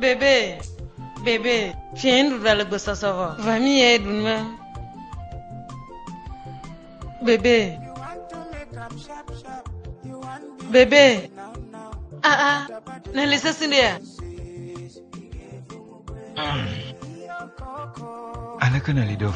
Bebe, bebe, fiẽ nuɖuɖua le gbesɔsɔ vɔ, va mi ye ɖu nua. Bebe, bebe, aa, ah, ah, ne le sesi ɖe ya. Hmm. Aleke ne li ɖo?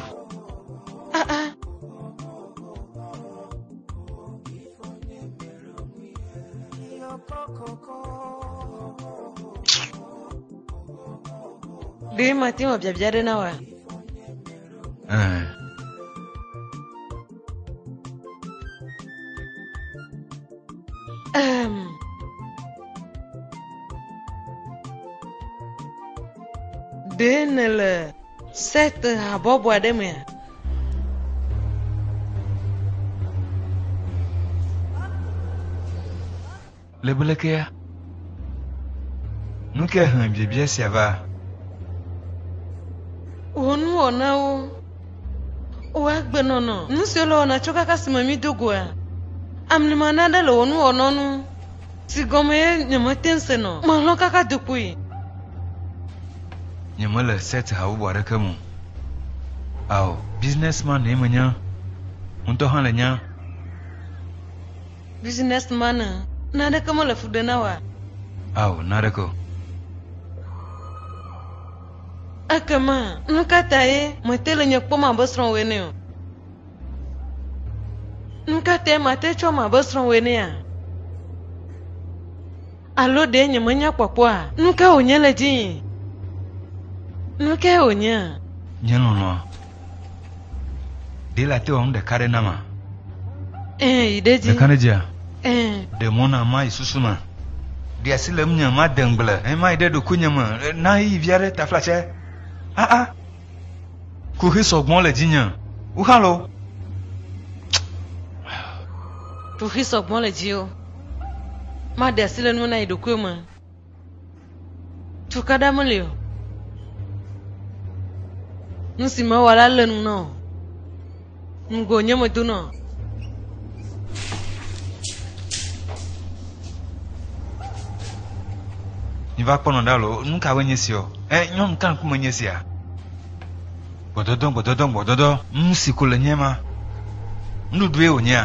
ɖe mate wɔ biabia ɖe na wa um, ɖe nele set habɔbɔ aɖe mea Le blekea, nu ka he biabia sia va? Wò nuwɔnawo, wò agbenɔnɔ, nu siwo le wɔna tso kaka si me mí do goa, amlima naɖe le wò nuwɔnawo nu. Si gɔmee nyemete ŋu sena o. Melɔ̃ kaka do kpoyi. Nyemele set habɔbɔ aɖeke me o. Ao, businessman-e menye. Wò ŋutɔ hã le nya. Businessman-e. Naneke mele fu ɖem na wòa? Ao, naneke o. Ekema, nukatae mète le nye kpɔm abe srɔ̃wò ene o? Nukatae mate tsɔ ame abe srɔ̃ wɔe nɛa? Alo ɖe nyemenya kpɔkpɔa? Nuka wònye le dzii? Nukae wònyea? Nye lɔlɔ̃a, ɖe late wɔ nu ɖeka ɖe nama? Ẽ, yi ɖe edzi. Ɖeka ɖe dzia? Ẽ. Ɖe mɔ nam mayi susu me. Ɖe asi le ŋunye made ŋugble. Ẽ, mayi ɖe ɖokuinye me. Na ɣeyiɣi vi aɖe taflatse. Aa! Kuxi sɔgbɔ le dzinye. Wuxalo. Kuxi sɔgbɔ le dziwò. Maɖe asi le nume na yi ɖokuiwo me. Tukaɖa meli o. Nu si mewɔ la lé nu na wò. Ŋgo nye me do nɔ. Ni va kpɔnɔ ɖa lo, nu ka wɔ nye si o? Ɛ, nyɔnu ka ŋkume nye sia? Gbɔdɔdɔ, gbɔdɔdɔ, gbɔdɔdɔ, nu si ko le nye ma. Nuɖuɖue wònyea?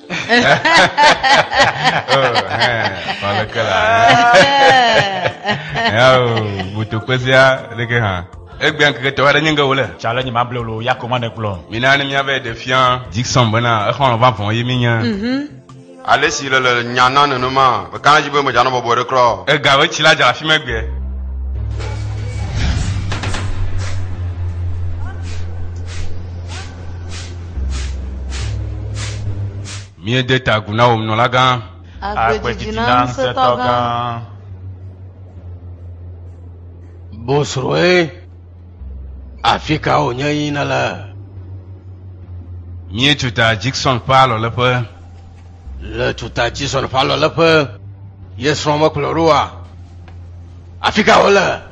Faleke la. Yawo, butu kpezia ɖeke hã. Egbea ŋkeke tɔwa ɖe nye ŋge wole. Tsa le nye ma blolo ya ko ma ne gblɔ. Mina ne míave ɖe fia Dixon bena exɔlɔ̃ vavɔ ye míenye. Ale si le le nya na nenema, meka ɖe edzi be medzanɔ bɔbɔe ɖe kura o. Ega alo tsi la dza le afi ma egbea. Míede ta agu na wò nunɔlagã. Agbe didi na ŋusẽtɔgã. Bosroe, afi ka wònye yí nèle? Míetso ta Jixon ƒe alɔleƒe. Le tso ta Jixon ƒe alɔleƒe. Ye srɔ̃ mekplɔe ɖoa? Afi ka wole?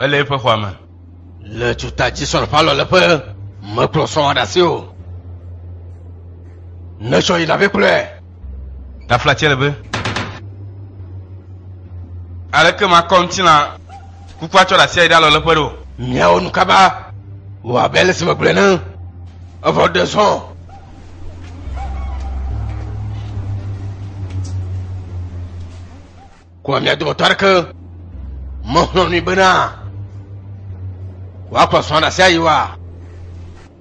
ele eƒe xɔa me le tuta dzi sɔle palɔ le ƒe mekplɔ sɔa ɖe asi o netsɔ yi ɖavi kplɔe Gafla tse le be. Aleke makɔ ŋutilã kukua tsɔ ɖe asi ayi ɖe alɔleƒe ɖo? Miawo nu kaba wɔ abe ale si megblɔe ne evɔ ɖe zɔ. Kua mia dometɔ aɖeke mexlɔ̃ nui bena wòakplɔ srɔ̃a ɖe asi ayi wa?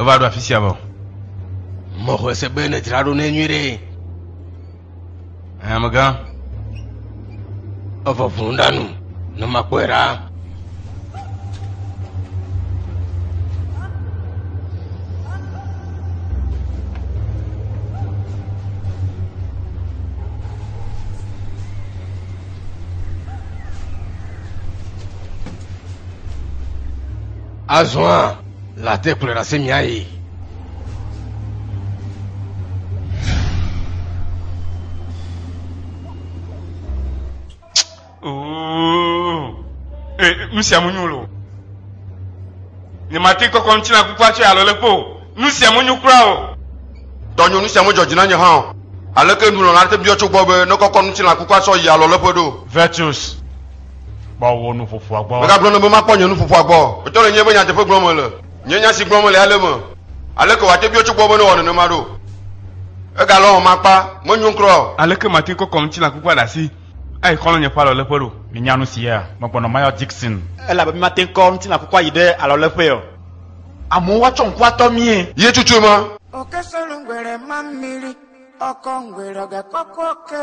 Eva ɖo afi sia vɔ. Mɔxɔe se be nedzra ɖo ne nyui ɖe. Hamegã, evɔ ʋu ɖa nu ne makpɔe ɖa. Azɔa. La te kplɔe ɖase miayi. nu sia mu nyu lo ne mate kɔkɔ ŋuti na kukua tso alɔ le kpo nu sia mu nyu kura o dɔnyo nu sia mu dzɔdzi na nye hã o aleke nulɔla te biɔ tso gbɔ be ne kɔkɔ ŋuti na kukua sɔ yi alɔ le ƒe ɖo vetus Kpɔ wò nu fofoa gbɔ. Megagblɔ nɛ be makpɔ nye nu fofoa gbɔ. Etɔ le nyee be nyateƒe gblɔm mele. Nye nya si gblɔm mele ya le eme. Aleke wòate biɔ tso gbɔ be newɔ nenema ɖo? Egalɔ̃m makpa. Menyo ŋkrɔ o. Aleke mate kɔkɔ ŋutilã kukua ɖe asi ayi xɔlɔ̃nye ƒe alɔleƒe ɖo? Minya nu sia? Megblɔnɔ Mayor Dixon. Elabe mímate ŋu kɔ ŋutilã kukua yi ɖe alɔleƒee o. Amewo atsɔ ŋku atɔ míe. Ye tsutsoe ma. Oke solo ŋgbe ɖe ma mili ɔkɔ ŋgbe ɖɔge kɔkɔ ke.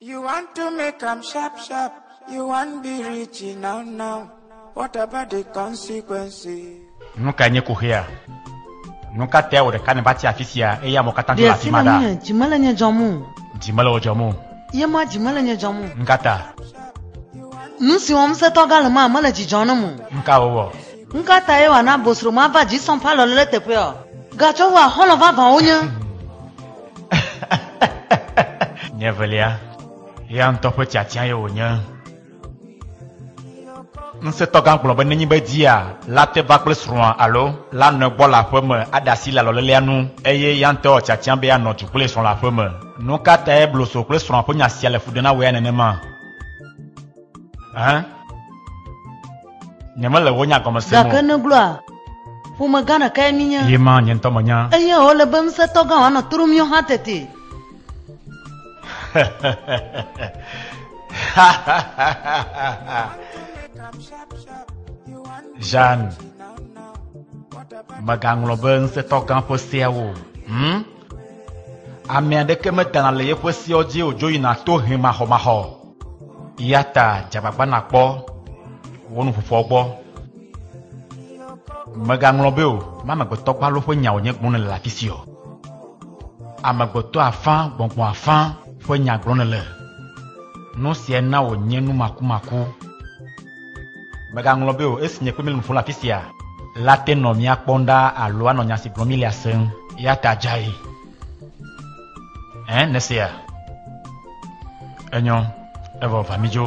You want to make am sharp sharp, you want be rich now now. What about the consequences? Nu kae nye koxea? Nu ka tae wò ɖeka nèva ti afi sia eye amewo katã tso le afi ma ɖa? Ɖe dzime le nye dzɔm o. Dzime le wò dzɔm o. Ye ma dzime le nye dzɔm o. Nu ka ta? Nu si wɔm setɔ gã le ma mele dzidzɔ nam o. Nu ka wòwɔ? Nu ka tae wòana bosro mava dzi sɔŋ ƒe alɔle ɖe teƒeɔ? Gatsɔ wòa xɔlɔ̃ vavãwo nye. Nye evelia, eya ŋutɔ ƒe tiatiae wònye. Ŋusẽtɔgã gblɔ be nenye be dia la te va kple srɔ̃a alo la nɔe gbɔ le aƒe me aɖe asi le alɔlelea nu eye eya ŋutɔ wɔ tiatia be yeanɔ du kple srɔ̃ le aƒe me. Nu ka tae Bloso kple srɔ̃a ƒe nya sia le fu ɖem na wòea nenema? Ɛhɛn. Nyemele wò nya gɔme sem Gake o. nègblɔa, Ƒomegã ɖekae míenye. Ye ma nye ŋutɔ menya. Eye wòle be ŋusẽtɔ gã wòanɔ to ɖom míawo hã tete. Jeanne, mègaŋlɔ be ŋusẽtɔ gã ƒe seawo o. Hm? Ame aɖeke medana le yeƒe seawo dzi o, dzo yina to he maxɔmaxɔ. Eya ta dze agbagba nàkpɔ wò nuƒoƒoa gbɔ. Mègaŋlɔ be o, me amegbetɔ gbalo ƒe nyawo nye gblɔm nèle le afi si o. Amegbetɔ afã, gbɔngbɔn afã ƒe nya gblɔm nèle. Nu sia na wònye numakumaku. Mègaŋlɔ be o, esi nye kple mi le nu ƒom le afi sia la te nɔ mía kpɔm ɖa alo anɔ nya si gblɔm mílea sem. Eya ta dzae. Ẽ, nèsea? Enyɔ. Evɔ, va mídzo.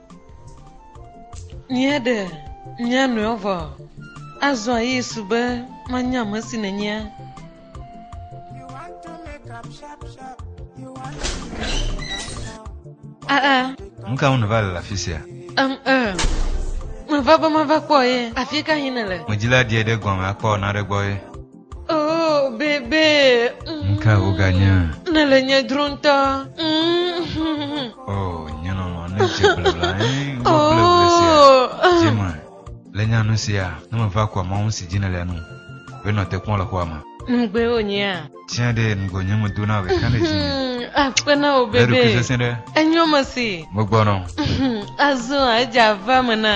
Míeɖe mía nɔewo vɔ. Azɔ Yesu be, Manya ame si nènyea. Aa. Nu ka ŋu nèva le afi sia? Em, ee. Meva be mava kpɔ ye. Afi ka yim nèle? Medzila ɖie ɖe gɔme akpɔ naɖe gbɔ ye. Oh, bébé. Mm. Ka woganya? Nèle nye dro ŋutɔ. Mm. Oh, nye lɔlɔ ne dze blebla ẽ wobleble oh. sia. Dzime le nya nu sia ne meva kua mɔnu si dzi nèle nu. Wonɔ te kpɔm le xɔa me. Nugbe wonyea. Tiens ɖe nugo nye me dona be kan ɖe dzi. Akpena o bébé. Eɖo kese se ɖe. Enyo me si. Mo gbɔnɔ. Azɔ edza va me na.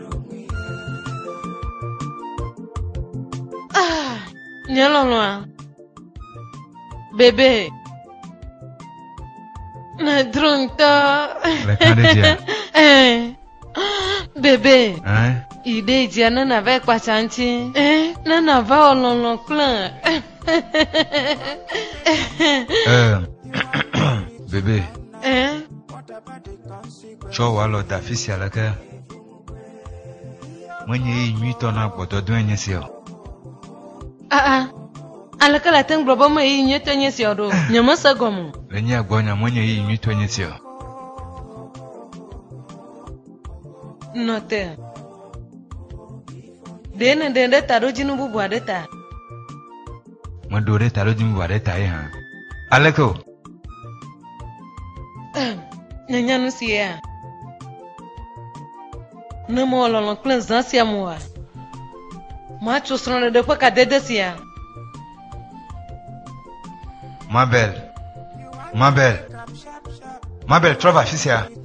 Ah, nye lɔlɔa. Bébé. Ne dro ŋutɔ. Le kan ɖe dzia. Eh. Bébé. Eh. Yi ɖe dzia ne nava kpatsa ŋuti. Eh. Ne nava wɔ lɔlɔ kple. Eh. Bébé. Eh. Tsɔ wò alɔ da afi sia aleke menye ɣeyiɣi nyuitɔ na gbɔdɔdɔe nye sia o. Aa, aleke le ate ŋu gblɔ be menye ɣeyiɣi nyuitɔ nye sia o ɖo? Nyemese egɔme o. Le nye gbɔ nya menye ɣeyiɣi nyuitɔ nye sia o. Nɔ te. Ɖe nèɖe ɖe taɖodzinu bubu aɖe ta? Meɖo ɖe taɖodzinu bubu aɖe ta ye hã. Aleke o? Nènya nu sia? Ne mewɔ lɔlɔ kple zã sia mu oa, matso srɔ̃ɖeɖe ƒe kadede sia. Mabel, Mabel, Mabel, trɔ va afi sia.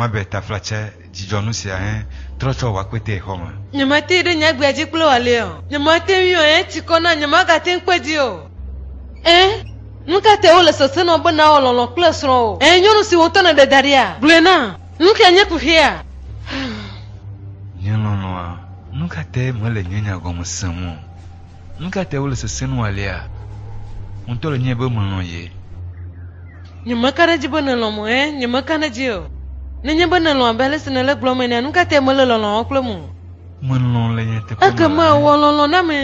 Moabe taflatse dzidzɔnu sia hẽ trɔ tsɔ wɔ akpetɛ xɔ me. Nyemate ɖe nye agbea dzi kple wòalé o. Nyemate ŋui o, eti kɔ nam, nyemagate ŋu kpe dzi o. Ẽ, nu ka tae wole sesẽ nɔ be nàwɔ lɔlɔ̃ kple srɔ̃wò? Ẽ, nyɔnu si wò ŋutɔ nèɖe da ɖia? Gblɔe nam, nu kae nye kuxia? Nye lɔlɔ̃a, nu ka tae mele nye nya gɔme sem o? Nu ka tae wole sesẽ nu alea? Ŋutɔ le nyae be melɔ̃ ye. Nyemeka ɖe edzi be nèlɔ̃m o, ɛ̃, nyemeka ɖe edzi o. Nenye be nèlɔ̃m abe ale si nèle egblɔm enea, nu ka tae mèle lɔlɔ̃a wɔm kplem o? Melɔ̃ le nyateƒe me. Ekema wɔ lɔlɔ̃ na ame.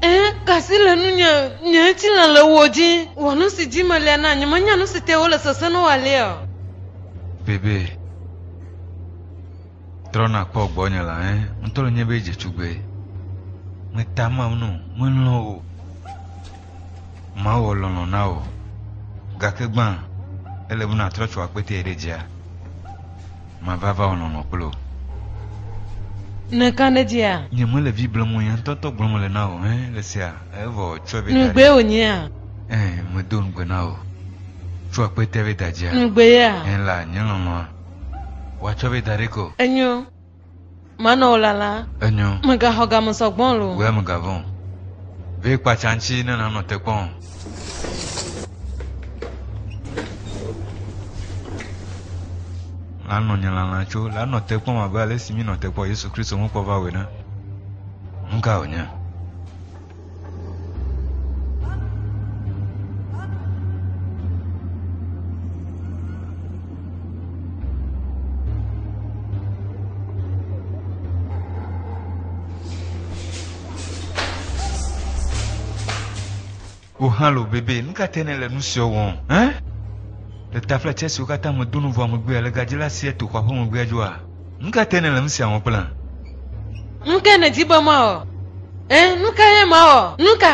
Ɛ̃, ka asi le nunye. Nye ŋutilã le wò dzi. Wɔ nu si dzi melia nam. Nyemenya nu si tae wole sesẽ nu alea o. Bebee. Trɔna kpɔ gbɔnye la ẽ ŋutɔ le nye be dze tugbe. Meta mam no, melɔ̃ o. Mawɔ lɔlɔ̃ na wò. Gake gbã, ele be nàtrɔ tso akpetɛ ɖe dzia. Mava va wɔ lɔlɔ̃ kple wò. Nèka ɖe dzia? Nyemele vi blem o, nye ŋutɔŋutɔ gblɔm mele na wò, ẽ, le esia, evɔ tsɔe be da ɖi. Nugbee wònyea? Ẽ, medo ŋugbe na wò. Tso akpetɛ be da dzia? Nugbee ya? Ẽ la, nye lɔlɔ̃a. Woatsɔ vɛ da ɖɛ ko. Enyo, manɔ wò lala. Enyo. Mègaxɔ game sɔ gbɔ o. Wɛ mègavɔ̃ o. Vɛ kpatsa ŋtsi ne nànɔ te kpɔ o. Lanɔ nye lala tso. Lanɔ te kpɔm abe ale si mínɔ te kpɔ Yesu Kristo ŋu kpɔ va wò ene. Nuka wònye? hã lo bebe nu ka te ne le nu siwo wɔm hã le tafla tsɛ siwo katã medo nu vɔ megbea le gadzila sia to xɔa ƒe megbea dzɔa Nu ka te nèle nu sia wɔm kple? Nu ka nèdi be mawɔ? Ẽ, nu ka ye mawɔ? Nu ka?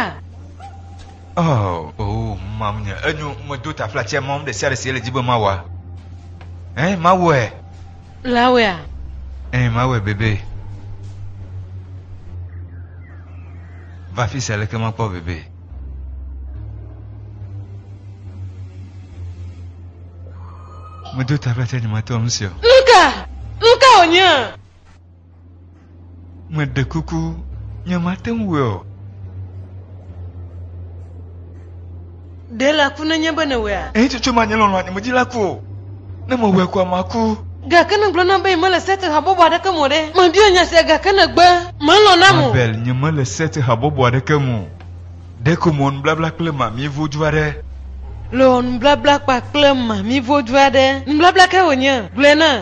Oh, oh, mawnye, enyo, medo taflatsia mawɔ nu ɖe sia ɖe si ele di be mawɔa. Ẽ, mawɔe. Lawea. Ẽ, mawɔe bebe. Va fi sia leke makpɔ bebe. Medo ta ƒe ate nyematɔ nu sia. Nuka? Nuka wònye? Meɖe kuku nyemate ŋu wɔe o. Ɖe la ku nenye be nèwɔea? Eyi tutu manye lɔlɔ̃ anyimedzi la ku o. Ne mewɔe koa, maku. Gake ne gblɔ nam be nyemele Set habɔbɔ aɖeke me o ɖe? Mabia nya sia gake nègbe melɔ̃ nam o. Abel, Nyemele Set habɔbɔ aɖeke me o. Ɖeko mewɔ nubabla kple mamie vodu aɖe. Lewɔ nubabla kpakple mamie vodu aɖe. Nubabla kae wònye? Gblɔe nam.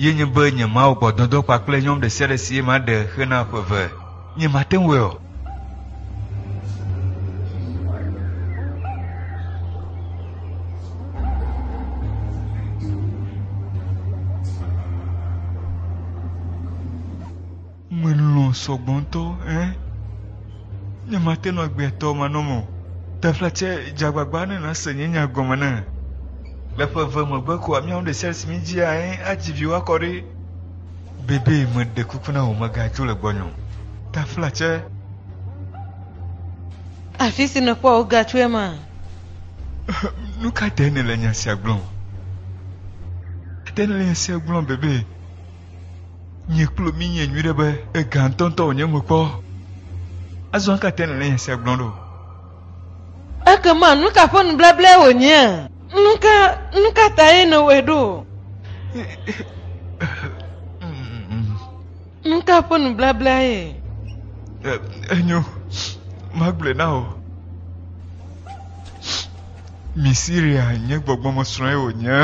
Ye nye be nye mawɔ gbɔdɔdɔ kpakple nyɔm ɖe sia ɖe si ye maɖe xe na ƒe eve. Nye mate ŋu o. Melɔ̃ sɔgbɔ ŋutɔ ɛ. Ne mate nɔ agbea tɔ manɔ me o. Tefla tsɛ dze agbagba ne nàse nye nya gɔme na. Le ƒe eve megbe koa míawo ŋu ɖe sia ɖe si míedzia ɛ adzi viwo akɔ ɖi. Bebe, meɖe kuku na wò mègadzo le gbɔnye o. Tefla tsɛ. Afi si nèkpɔ wò ga tsoe ma? Nu ka tae nèle nya sia gblɔm? Ate nèle nya sia gblɔm, Bebe. Nye klo mi nye nyuɖe be ega ŋutɔŋutɔ wònye mekpɔ. Azɔ aka te nèle nya sia gblɔm ɖo? Ekema nu ka ƒe nublablaa wònyea? Nu ka, nu ka tae nèwɔe ɖo? Nu ka ƒe nublablaa ye? Enyo, magblɔe na wò. Mi Siria nye gbɔgbɔmesrɔ̃e wònye.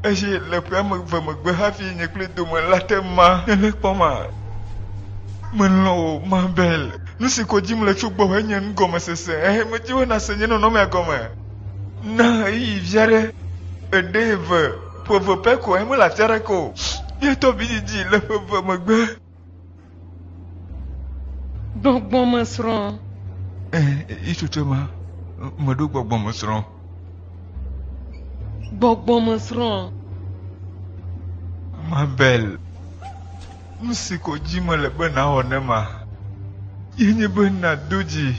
Eye le ƒe ame eve megbe hafi nye kple dome la te ma nèle kpɔm a? Melɔ̃ wò, Mabel. Nu si ko dim le tso gbɔwò enye nugɔmesese. Ɛ̃, medi be nàse nye nɔnɔmea gɔme. Na ɣeyiɣi vi aɖe. Eɖe eve, ƒe eve pɛ ko, eye mele afi aɖeke o. Míetɔ vidzidzi le ƒe eve megbe. Gbɔgbɔmesrɔ̃. Ẽ, itsotso ma meɖo gbɔgbɔmesrɔ̃. Gbɔgbɔmesrɔ̃. Mabel, nu si ko dzi mele be nàwɔ ne ma ye nye be nàdo dzi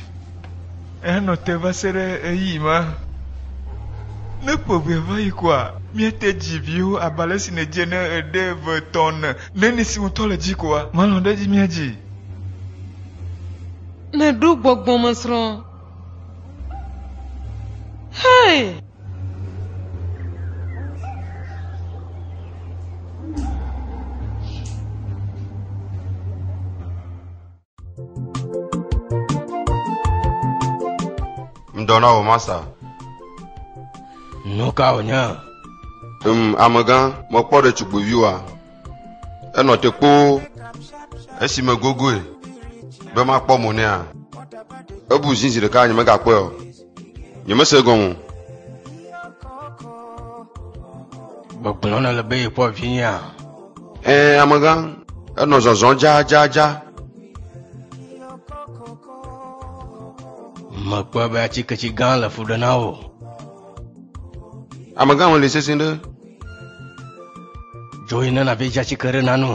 heanɔ te va se ɖe ɣeyiɣi ma. Ne ƒe ʋea va yi koa, míate dzi viwo abe ale si nèdze ne èɖe eve, etɔ̃, ene, Ne ni si ŋutɔ le dzi koa, malɔ̃ ɖe edzi mía dzi. Nèɖo gbɔgbɔmesrɔ̃. Hei! Ŋdɔ na wò masa. Nu ka wònye? Um, amegã, mekpɔ ɖetugbuivi wa. Enɔ te kpoo esi megogoe be makpɔ mo nɛa. Ebu zi zi ɖeka nye megakpɔe o. Nyemese gɔme o. Gbɔgblɔ nɔ le be yekpɔ vinyea. Ɛ amegã, enɔ zɔzɔ jajaja. Mekpɔe be atsiketsi gã le fu ɖe na wò. Amegã me li sesẽ ɖe. Dzo yi ne nàve dza tsike ɖe nanu.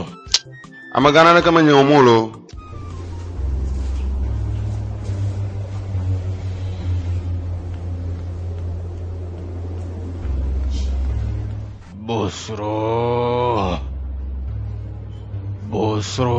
Amegã naneke menye wɔm o loo. Bosro. Bosro.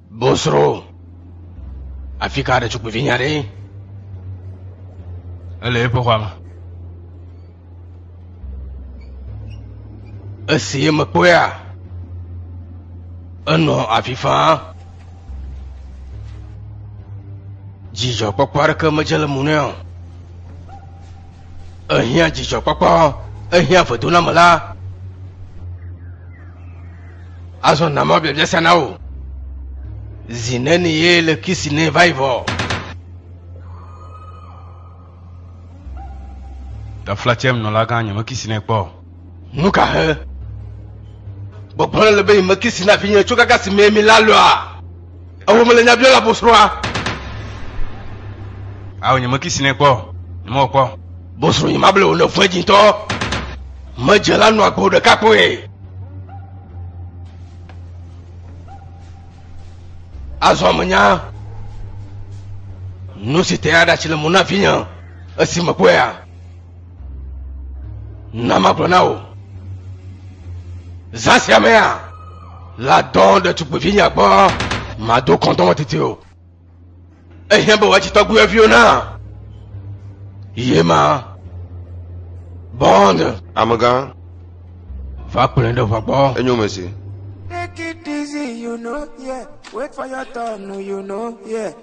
Bosro, afi ka ɖetugbuivi nya ɖe? Ele eƒe xɔa me. Esi mekpɔea, enɔ avi faa. Dzidzɔkpɔkpɔ aɖeke medze le mo nɛ o. Ehiã dzidzɔkpɔkpɔ, ehiã vedoname la. Azɔ na ma biabia sia na wò. Zi neni ye le kisi ne va yi vɔ? Taflatsem nɔlagã nye mekisi ne kpɔ. Nu ka he? Gbɔgbɔ le be yi mekisi na vinye tso gagasi mee mi la lɔa? Ewo mele nya biɔ la bosroa. Awo nye meki sine kpɔ, nye mɔ kpɔ. Bosro nye mable wo ne fue dzintɔ. Medze la nɔ agbo ɖeka kpoe. Azɔ menya nu si te aɖatsi le mo na vinye esi mekpɔe ya. Na magblɔ na wò. Zã sia mea, ladɔ ɖetugbuivi nya gbɔ, mado kɔndɔmɔ tete o. Ehiã be wòatsi tɔgbuiviwo na. Ye ma. Bond. Amegã. Va kplɔe ɖe ʋua gbɔ. Enyo me si. Take it easy, you know, yeah. Wait for your turn, you know, yeah.